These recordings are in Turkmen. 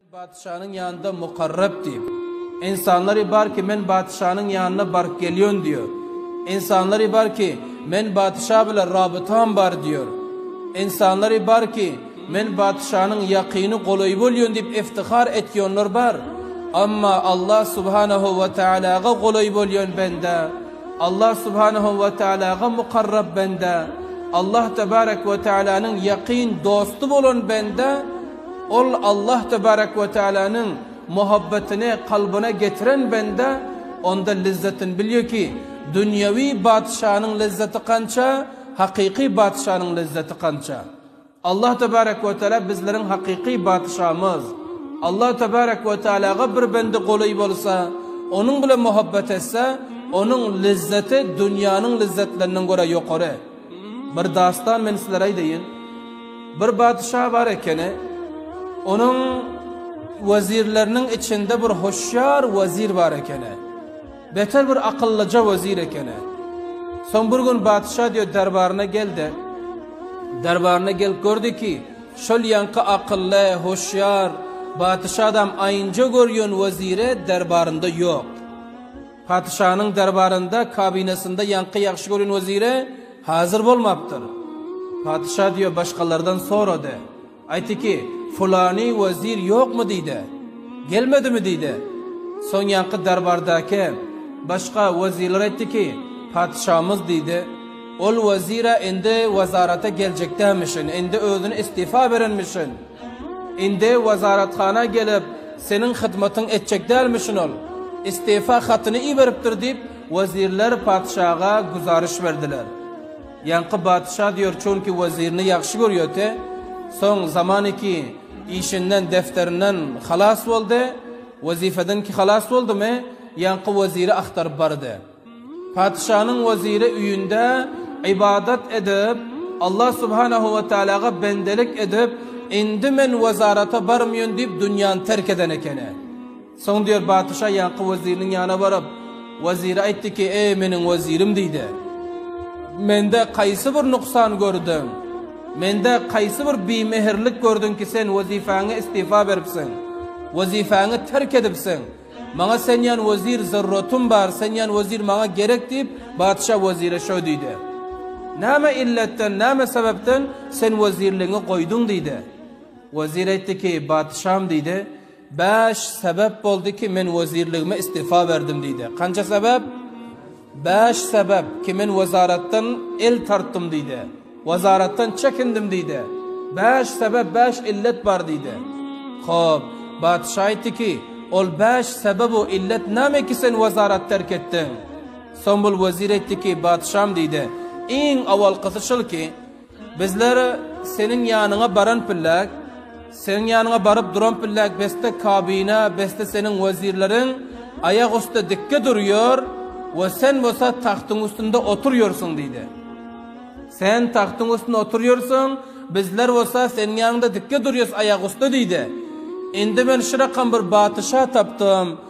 Patyşanyň ýanynda Mukarrep diýip, ynsanlary bar ki, men patyşanyň ýanyna baryp gelýän diýýär. Ynsanlary bar ki, men patyşa bilen rabytam bar diýýär. Ynsanlary bar ki, men patyşanyň ýakyny, golaýy bolýan diýip iftihar etýänler bar. Emma Allah subhanahu we taalaga golaý bolýan bende, Allah subhanahu we taalaga Mukarrep bende, Allah tebarek we taalanyň ýakyn dosty bolan bende, Ol Allah tebarek we tealanyň muhabbetyny kalbyna getiren bende onda lezzetini bilýär ki, dünýewi batyşanyň lezzeti kança, hakyky batyşanyň lezzeti kança. Allah tebarek we teala bizleriň hakyky batyşamyz. Allah tebarek we tealaga bir bende golaý bolsa, onuň bilen muhabbet etse, onuň lezzeti dünýäniň lezzetlerinden görä ýokary. Bir dastan men sizlere aýdaýyn. Bir badyşa bar ekeni. Onuň wezirleriniň içinde bir hoşýar wezir bar ekeni. Beter bir akyllyja wezir ekeni. Soň bir gün badyşa diýe derbaryna geldi. Derbaryna gelip gördi ki, şol ýaňky akylly, hoşýar, badyşa adam aýynja görýän wezire derbarynda ýok. Patyşanyň derbarynda kabinasynda ýaňky ýagşy gören weziri hazir bolmapdyr. Patyşa diýe başgalardan sorady. Aýtyki, fulany wezir ýokmy diýde. Gelmedimi diýde. Soň ýaňky derbardaky başga wezirler aýtdyki, patyşamyz diýde. Ol wezir-ä indi wezarata geljekdämişin, indi özüni istifa berenmişin. Indi wezarathana gelip, seniň hyzmatyňy etjek dälmişin ol. Istifa hatyny iberipdir, diýip, wezirler patyşaga güzariş berdiler. Ýaňky patyşa diýer, çünki wezirini ýagşy görýärdi. Soň Zamaniki işinden, defterinden halas boldy. Wezifedenki halas boldumy, ýaňky weziri agtaryp bardy. Patyşanyň weziri öýünde ybadat edip, Allah subhanahu we taalaga bendelik edip, Indi men wezarata barmýyn diýip dünýäni terk eden ekeni. Soň diýer patyşa ýaňky weziriniň ýanyna baryp, wezire aýtdy ki, Eý, meniň wezirim diýdi. Mende kaýsy bir nuksan gördüň? Mende kaýsy bir bimehirlik gördüň ki, sen wezipäňe istifa beripsiň? Wezipäňi terk edipsiň? Maňa sen ýan wezir zerrotym bar, sen ýan wezir maňa gerek diýip, patyşa wezire şo diýdi. Näme illetden, näme sebäpden sen wezirligiňi goýduň diýdi. Wezir aýtdy ki, patyşam diýdi, bäş sebäp boldy ki, men wezirligime istifa berdim diýdi. Kança sebäp? Bäş sebäp kimin wezaratdan el tartdym diýde, wezaratdan çekindim diýde, bäş sebäp, bäş illet bar diýde. Hop, batyş aýtdy ki, ol bäş sebäbu illet näme ki sen wezarat terk etdiň? Soň bul wezir aýtdy ki, batyşam diýde, iň owalkysy şul ki, Bizler Seniň ýanyňa baran pillek, Seniň ýanyňa baryp duran pillek besde kabina, besde Seniň wezirleriň aýak üsti dikge durýar we Sen bolsa tagtyň üstünde oturýarsyň diýdi. Sen tagtyň üstünde oturýarsyň, bizler bolsa Seniň ýanyňda dikge durýas aýak üsti diýdi. Indi men şirakam bir batyşa tapdym.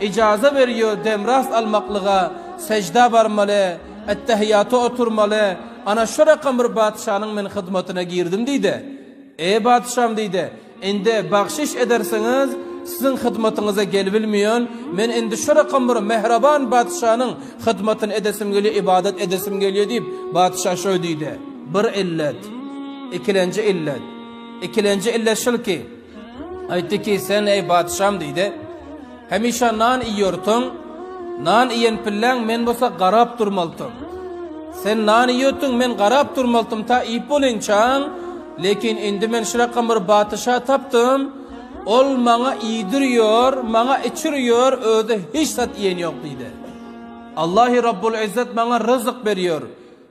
Yjaza berýär demrast almaklyga, sejda barmaly, ettehiýata oturmaly, ana şo rakam bir patyşanyň men hyzmatyna girdim diýdi. Eý patyşam diýdi, indi bagşyş edersiňiz, siziň hyzmatyňyza gelibilmeýän, men indi şo rakam bir mähraban patyşanyň hyzmatyny edesim gelýär, ybadat edesim gelýär diýip, patyşa şoý diýdi. Bir illet. Ikilenji illet. Ikilenji illet şulki. Aýtdy ki, Sen, eý, patyşam, diýdi, hemişe nan iýýortuň, nan iýen pilläň men bolsa garap durmaltym. Sen nan iýýotdyň, men garap durmaltym ta iýip bolinçaň, lekin indi men şrakam bir patyşa tapdym, ol maňa iýdirýor, maňa içirýor, özi hiç zat iýen ýok, diýdi. Allahy Rabbul Yzzat maňa ryzyk berýär.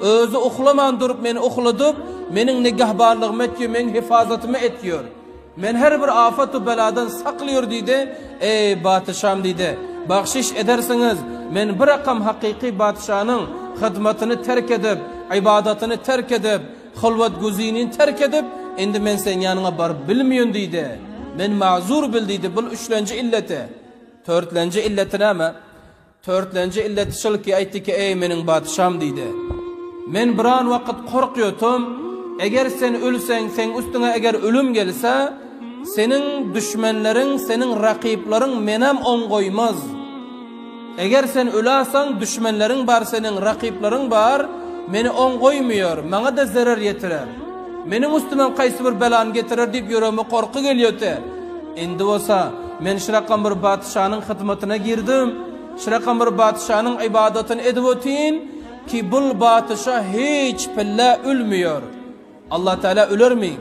Özi uklaman durup meni ukladyp, meniň nigehbarlygymy etýär, meniň hyfazatymy etýär. Meni her bir afat we beladan saklaýar diýdi. Eý, patyşam diýdi, bagşyş edersiňiz, men birakam hakyky patyşanyň hyzmatyny terk edip, ybadatyny terk edip, hylwat-güzinini terk edip, indi men seň ýanyňa baryp bilmeýän diýdi. Meni mazur bil diýdi, bul üçlenji illeti. Törtlenji illeti näme? Törtlenji illeti şol ki, aýtdy ki, Eý, meniň patyşam! diýdi. Men biran wagt korkýotum, eger sen ölseň, seň üstüňe eger ölüm gelse, seniň düşmenleriň, seniň rakyplaryň menem oň goýmaz. Eger sen öläseň, düşmenleriň bar, seniň rakyplaryň bar, meni oň goýmaýar, maňa-da zerer ýetirer. Meniň üstümem kaýsy bir belany getirer diýip ýüregime korky gelýote. Indi bolsa men Şirakambyr patyşanyň hyzmatyna girdim. Şirakambyr patyşanyň ybadatyny edip otyryn ki, bul patyşa hiç pille ölmeýär. Allatagala ölermi?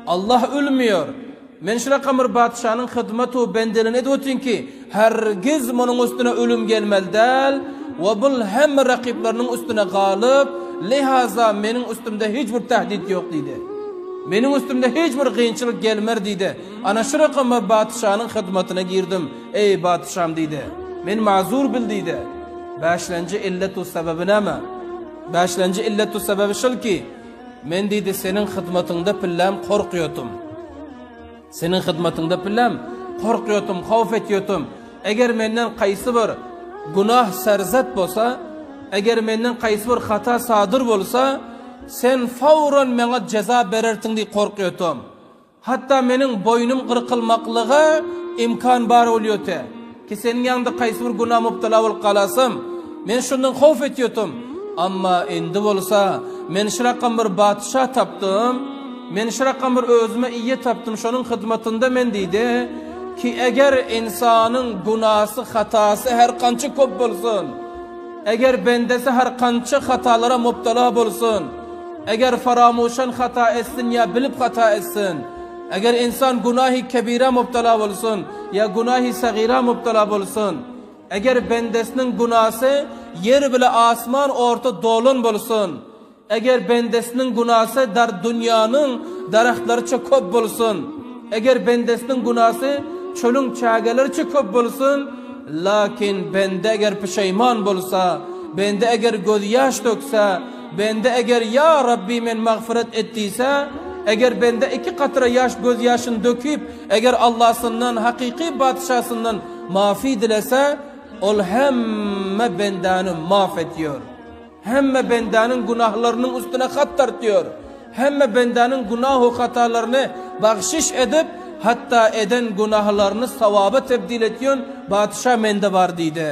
Allah ölmeýär. Men Şirakambyr patyşanyň hyzmat-u bendeligini edip otyryn ki, Hergiz munuň üstüne ölüm gelmeli däl we bul hemme rakyplarymyň üstüne galyp, lehaza meniň üstümde hiç bir tähdit ýok diýdi. Meniň üstümde hiç bir gynçylyk gelmer diýdi. Ana şu rakama batyşanyň hyzmatyna girdim. Eý, batyşam diýdi. Meni mazur bil diýdi. Bäşlenji illetu sebäbi näme? Bäşlenji illetu sebäbi şol ki, men diýdi seniň hyzmatyňda pilläm korkýotym. Seniň hyzmatyňda pilläm, korkýotym, howp etýotym. Eger menden kaýsy bir günah serzet bolsa, eger menden kaýsy bir hata sadyr bolsa, Sen fowran meňa jeza berersiň diýip korkýotym. Hatda meniň boýnum gyrkylmaklyga imkan bar bolýoty. Ki seniň ýanyňda haýsy bir günä mubtala bolup galasym, men şundan howf etýotum. Amma indi bolsa men şrakam bir batyşa tapdym, men şrakam bir özüme ýe tapdym, şonuň hyzmatynda men diýdi. Ki eger ynsanyň günasy, hatasy her gança köp bolsun, eger bendesi her gança hatalara mubtala bolsun, eger faramuşan hata etsin ýa bilip hata etsin, Eger ynsan günahy kebira mubtala bolsun ýa günahy sagira mubtala bolsun, eger bendesiniň günasy ýer bile asman orta dolan bolsun, eger bendesiniň günasy dar dünýäniň daragtlaryça köp bolsun, eger bendesiniň günasy çölüň çägeleriçe köp bolsun, lakin bende eger pişeýman bolsa, bende eger gözýaş dökse, Bende eger Ýa Rabbi men magfyrat et diýse, eger bende iki katra ýaş gözýaşyny dökip, eger Allasyndan, hakyky Batyşasyndan mafy dilese, Ol hemme bendäni maf edýär. Hemme bendäniň günahlarynyň üstüne hat dartýar. Hemme bendäniň günahu hatalaryny bagşyş edip, hatda eden günahalaryny sawaba tebdil etýän Batyşa mende bar diýdi.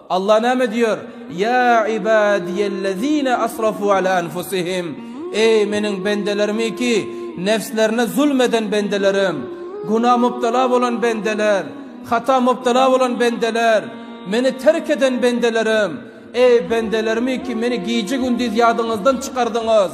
Allah näme diýýär? Ýa ibadiyellezine asrafu ala anfusihim, Eý, Meniň bendelerimi ki, nebslerine zulm eden bendelerim, günä mubtala bolan bendeler, hata mubtala bolan bendeler, Meni terk eden bendelerim, Eý, bendelerimi ki, Meni gije-gündiz ýadyňyzdan çykardyňyz!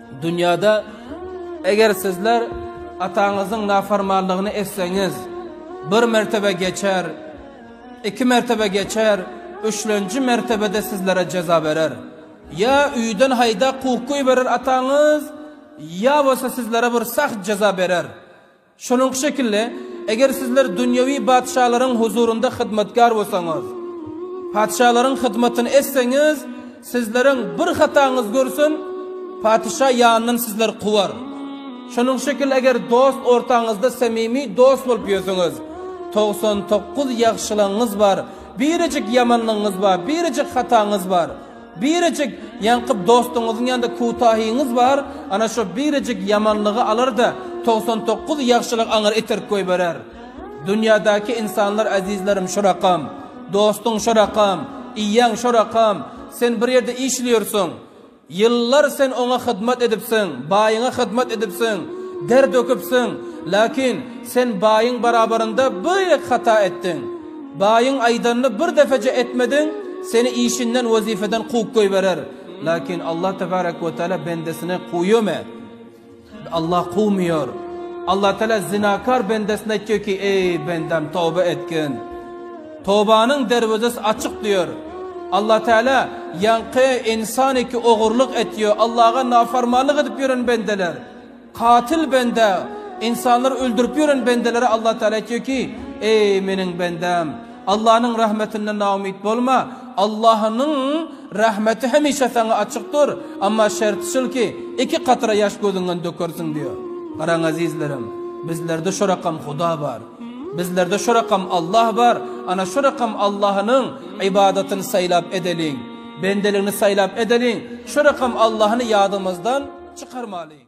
Dünýäde, eger sizler ataňyzyň nafarmanlygyny etseňiz, bir mertebe geçer, iki mertebe geçer, üçlenji mertebede sizlere jeza berer. Ýa öýden haýdap kowup goýberer ataňyz, ýa bolsa sizlere bir sagt jeza berer. Şonuňky şekilde, eger sizler dünýewi patyşalaryň huzurynda hyzmatkär bolsaňyz, patyşalaryň hyzmatyny etseňiz, sizleriň bir hataňyz görsün, patyşa ýanyndan sizleri kowar. Şonuňky şekilde, eger dost ortaňyzda samimi dost bolup ýörseňiz, togsan dokuz ýagşylygyňyz bar, birejik ýamanlygyňyz bar, birejik hataňyz bar. Birejik ýaňky dostuňyzyň ýanynda kütahyňyz bar, ana şo birejik ýamanlygy alar-da, togsan dokuz ýagşylygy aňyr iterip goýberer. Dünýädäki ynsanlar äzizlerim şurakam. Dostuň şurakam, iýeň şurakam. Sen bir ýerde işleýärsiň. Ýyllar sen oňa hyzmat edipsiň, baýyňa hyzmat edipsiň, der döküpsiň. Lakin, sen baýyň barabarynda bir hata etdiň. Baýyň aýdanyny bir depeje etmediň, seni işinden, wezipeden kowup goýberer. Lakin Allah tebarek we teala bendesini kowýarmy? Allah kowmaýar. Allah teala zinakar bendesine aýtýar ki, eý bendem toba etgin. Tobanyň derwezesi açyk diýer. Allah teala ýaňky insan ki ogurlyk etýär, Allaha nafarmanlyk edip ýören bendeler. Katyl bende, ynsanlary öldürip ýören bendelere Allah Tagala aýtýar ki, Eý, meniň bendäm! Allanyň rahmetinden naumyt bolma, Allanyň rahmeti hemişe saňa açykdyr, amma şerti şul ki, iki katra ýaş gözüňden dökersiň diýýär. Garaň ezizlerim, bizlerde şorakam Huda bar. Bizlerde şorakam Allah bar, ana şorakam Allanyň ybadatyny saýlap edeliň, bendeligini saýlap edeliň, şorakam Allany ýadymyzdan çykarmalyň.